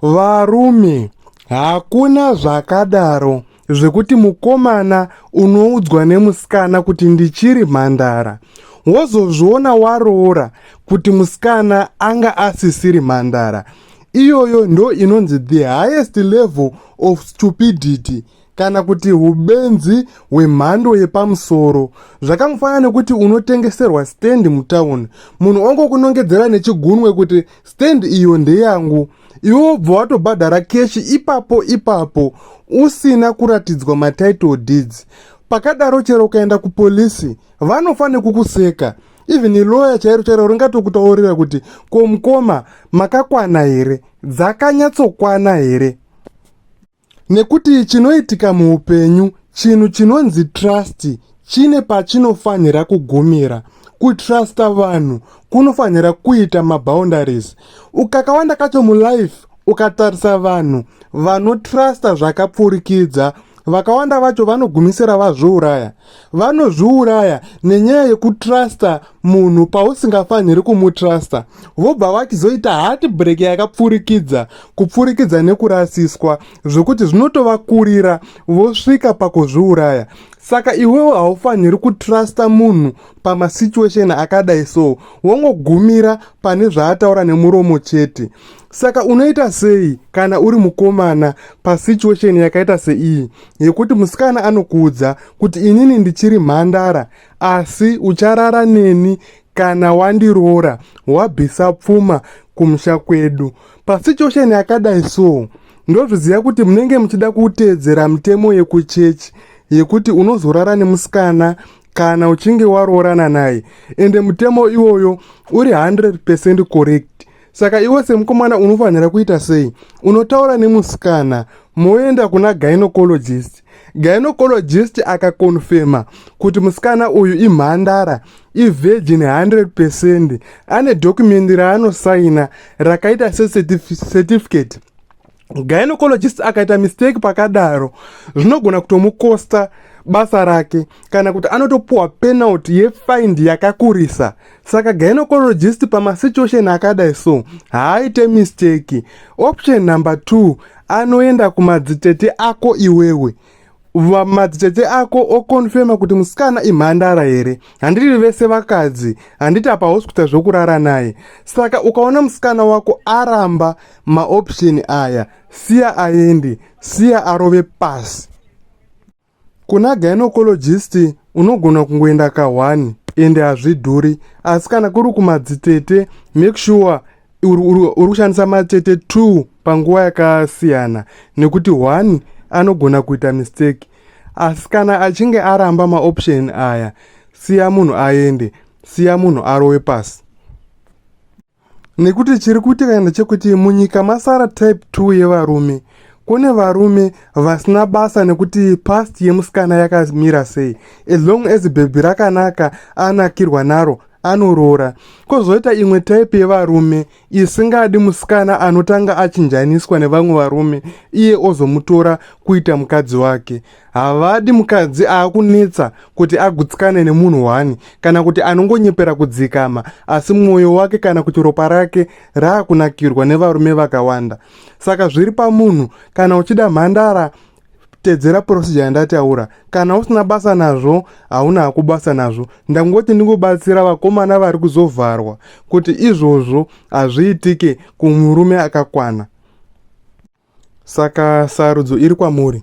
Varume, hakuna zvakadaro zvekuti mukomana unoudzwa nemusikana kuti ndichiri mhandara wozozviona waroora kuti musikana anga asisiri mhandara iyoyo ndo inonzi the highest level of stupidity kana kuti ubenzi hwemhando yepamusoro zvakangofanana nekuti unotengeserwa stendi mutauni munhu ongokunongedzera nechigunwe kuti stendi iyo ndeyangu iwe wobva watobhadhara keshi ipapo ipapo usina kuratidzwa matitle deeds pakadaro chero ukaenda kupolisi vanofanira kukuseka even iloya chairo chairo ringatokutoorera kuti komukoma makakwana here dzakanyatsokwana here Nekuti chinoitika muupenyu, chinhu chinonzi trust chine pachinofanhira kugumira. Kutrusta vanhu kunofanhira kuita maboundaries. Ukakawanda kacho mulife, ukatarisa vanhu vanotrusta zvakapfurikidza, vakawanda vacho vanogumisira vazviuraya. vanozviuraya nenyaya yekutrusta munhu pausingafaniri kumutrusta vobva vachizoita hati break yakapfurikidza kupfurikidza nekurasiswa zvekuti zvinotovakurira vosvika pakuzviuraya saka iwewo haufaniri kutrusta munhu pamasituation akadai so wongogumira pane zvaataura nemuromo chete Saka unoita sei kana uri mukomana pasituation yakaita seiyi yekuti musikana anokuudza kuti inini ndichiri mhandara asi ucharara neni kana wandiroora wabvisa pfuma kumusha kwedu pasituation yakadai so ndozviziva kuti munenge muchida kuteedzera mitemo yekuchechi yekuti unozorara nemusikana kana uchinge waroorana naye ende mutemo iwoyo uri 100 percent correct saka iwe semukomana unofanira kuita sei unotaura nemusikana moenda kuna gynocologist gynocologist akakonfema kuti musikana uyu imhandara ivirgin 100 percent ane dhokumendi raanosaina rakaita secertificate gynecologist akaita mistake pakadaro zvinogona kutomukosta basa rake kana kuti anotopuwa penalty yefind yakakurisa saka gynecologist pamasituation akadai so haaite mistake option number two anoenda kumadzitete ako iwewe vamadzitete ako okonfema kuti musikana imhandara here handiri vese vakadzi handiti apa hausi kuita zvokurara naye saka ukaona musikana wako aramba maoption aya siya aendi siya arove pasi kuna gynecologist unogona kungoenda kahwani ende hazvidhuri asi kana kuri kumadzitete make sure uri kushandisa matete two panguva yakasiyana nekuti one anogona kuita mistake asi kana achinge aramba maoption aya siya munhu aende siya munhu arowe pasi nekuti chiri kuitika ndechekuti munyika masara type 2 yevarume kune varume vasina basa nekuti past yemusikana yakamira sei as long as bhebhi rakanaka anakirwa naro anoroora kozoita imwe type yevarume isingadi musikana anotanga achinjaniswa nevamwe varume iye ozomutora kuita mukadzi wake havadi mukadzi aakunetsa kuti agutsikane nemunhu one kana kuti anongonyepera kudzikama asi mwoyo wake kana kuti ropa rake raakunakirwa nevarume vakawanda saka zviri pamunhu kana uchida mhandara tedzera procedure yandataura kana usina basa nazvo hauna hako basa nazvo ndangoti ndingobatsira vakomana vari kuzovharwa kuti izvozvo hazviitike kumurume akakwana saka sarudzo iri kwamuri